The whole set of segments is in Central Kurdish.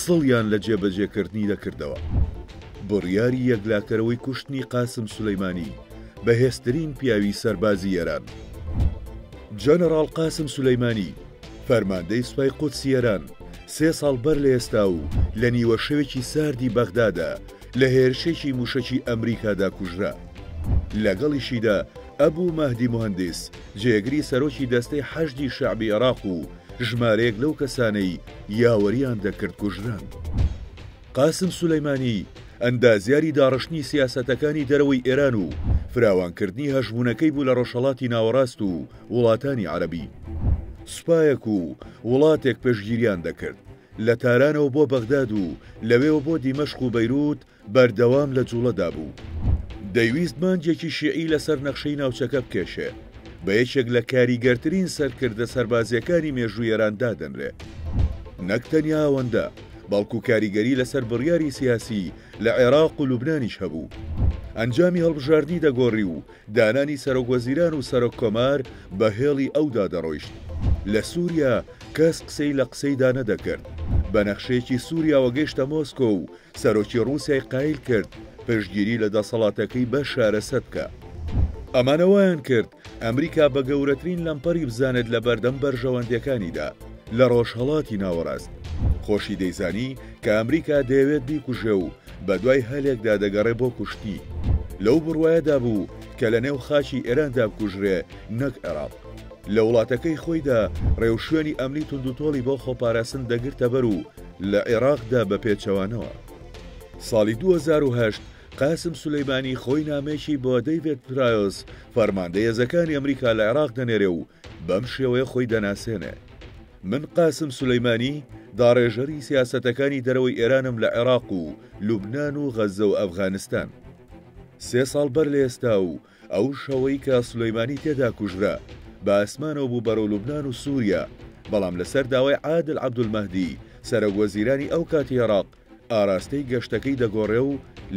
سڵیان لە جێبەجێکردنی دەکردەوە. بڕیاری یەکلاکەرەوەی کوشتنی قاسم سولەیمانی، بەهێزترین پیاوی سەربازی ئێران. جەنەڕاڵ قاسم سولەیمانی، فەرماندەی سوپای قودسی ئێران، سێ ساڵ بەر لە ئێستا و لە نیوەشەوێکی ساردی بەغدادا، لە هێرشێکی مووشەکی ئەمریکادا کوژرا. لەگەڵیشیدا ئەبو مەهدی موهەندیس، جێگری سەرۆکی دەستەی حەشدی شەعبی عێراق و، ژمارەیەک لەو کەسانەی یاوەرییان دەکرد کوژران. قاسم سولەیمانی ئەندازیاری داڕشتنی سیاسەتەکانی دەرەوەی ئێران و فراوانکردنی هەژموونەکەی بوو لە ڕۆژهەڵاتی ناوەڕاست و وڵاتانی عەرەبی. سوپایەک و وڵاتێک پشتگیریان دەکرد. لە تارانەوە بۆ بەغداد و لەوێوە بۆ دیمەشق و بەیرووت بەردەوام لە جووڵەدا بوو. دەیویست مانگێکی شیعی لەسەر نەخشەی ناوچەکە بکێشێ. بە یەکێک لە کاریگەرترین سەرکردە سەربازییەکانی مێژووی ئێران دادەنرێ. نەک تەنیا ئەوەندە، بەڵکوو کاریگەری لەسەر بڕیاری سیاسی لە عێراق و لوبنانیش هەبوو. ئەنجامی هەڵبژاردنی دەگۆڕی و دانانی سەرۆکوەزیران و سەرۆککۆمار بە هێڵی ئەودا دەڕۆیشت. لە سووریا کەس قسەی لە قسەیدا نەدەکرد. بە نەخشەیەکی سووریاوە گەیشتە مۆسکۆ و سەرۆکی ڕووسیای قایل کرد پشتگیری لە دەسەڵاتەکەی بەشار ئەسەد بکا. ئەمانە وایان کرد ئەمریکا بە گەورەترین لەمپەری بزانێت لە بەردەم بەرژەوەندیەکانیدا لە ڕۆژهەڵاتی ناوەڕاست. خۆشی دەیزانی کە ئەمریکا دەیەوێت بیکوژێ و بە دوای هەلێکدا دەگەڕێ بۆ کوشتنی. لەو بڕوایەدا بوو کە لە نێو خاکی ئێراندا بکوژرێ نەک عێراق. لە وڵاتەکەی خۆیدا ڕێوشوێنی ئەمنی توندوتۆڵی بۆ خۆپاراستن دەگرتە بەر و، لە عێراقدا بە پێچەوانەوە. ساڵی دوو هەزار و هەشت قاسم سولەیمانی خۆی نامەیەکی بۆ دەیڤێد پرایۆس فەرماندە هێزەکانی ئەمریکا لە عێراق دەنێرێ و بەم شێوەیە خۆی دەناسێنێ من قاسم سولەیمانی داڕێژەری سیاسەتەکانی دەرەوەی ئێرانم لە عێراق و لوبناان و غەزە و ئەفغانستان سێ ساڵ بەر لە ئێستا و ئەو شەوەی کە سولەیمانی تێدا کوژرا، بە ئاسمانەوە بوو بەرەو لوبنان و سووریا، بەڵام لەسەر داوای عادل عەبدولمەهدی، سەرەکوەزیرانی ئەو کاتی عێراق، ئاراستەی گەشتەکەی دەگۆڕێ و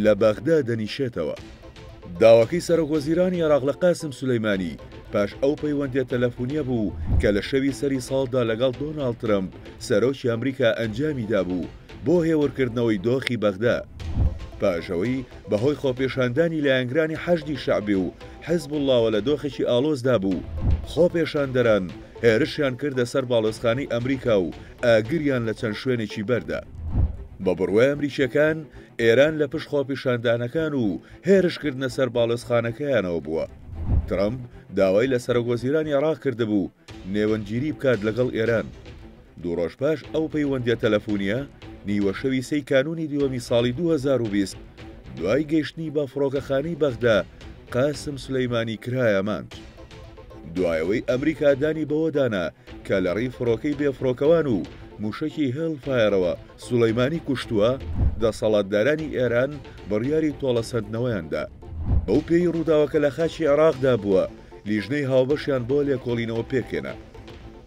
لە بەغدا دەنیشێتەوە. داواکەی سەرەکوەزیرانی عێراق لە قاسم سولەیمانی، پاش ئەو پەیوەندییە تەلەفونییە بوو کە لە شەوی سەری ساڵدا لەگەڵ دۆناڵد ترەمپ، سەرۆکی ئەمریکا ئەنجامی دابوو، بۆ هێورکردنەوەی دۆخی بەغدا پاشئەوەی بەهۆی خۆپێشاندانی لایەنگرانی حەشدی شەعبی و حزبوڵڵاوە لە دۆخێکی ئاڵۆزدا بوو، خۆپێشاندەران هێرشیان کردە سەر باڵۆزخانەی ئەمریکا و ئاگریان لە چەند شوێنێکی بەردا. بە بڕوای ئەمریکییەکان ئێران لە پشت خۆپیشاندانەکان و هێرشکردنە سەر باڵۆزخانەکەیانەوە بووە. ترەمپ داوای لە سەرۆکوەزیرانی عێراق کردبوو نێوەندگیری بکات لەگەڵ ئێران. دوو ڕۆژ پاش ئەو پەیوەندییە تەلەفونییە، نیوەشەوی سێی کانوونی دووەمی ساڵی دوو هەزار و بیست، دوای گەیشتنی بە فڕۆکەخانەی بەغدا، قاسم سولەیمانی کرایە مانج. دوای ئەوەی ئەمریکا دانی بەوەدا نا کە لەڕێی فڕۆکەی بێفڕۆکەوان و مووشەکی هێڵ فایەرەوە سولەیمانی کوشتووە، دەسەڵاتدارانی ئێران بڕیاری تۆڵەسەندنەوەیان دا. بەو پێیی ڕووداوەکە لە خاکی عێراقدا بووە، لیژنەی هاوبەشیان بۆ لێکۆڵینەوە پێکهێنا.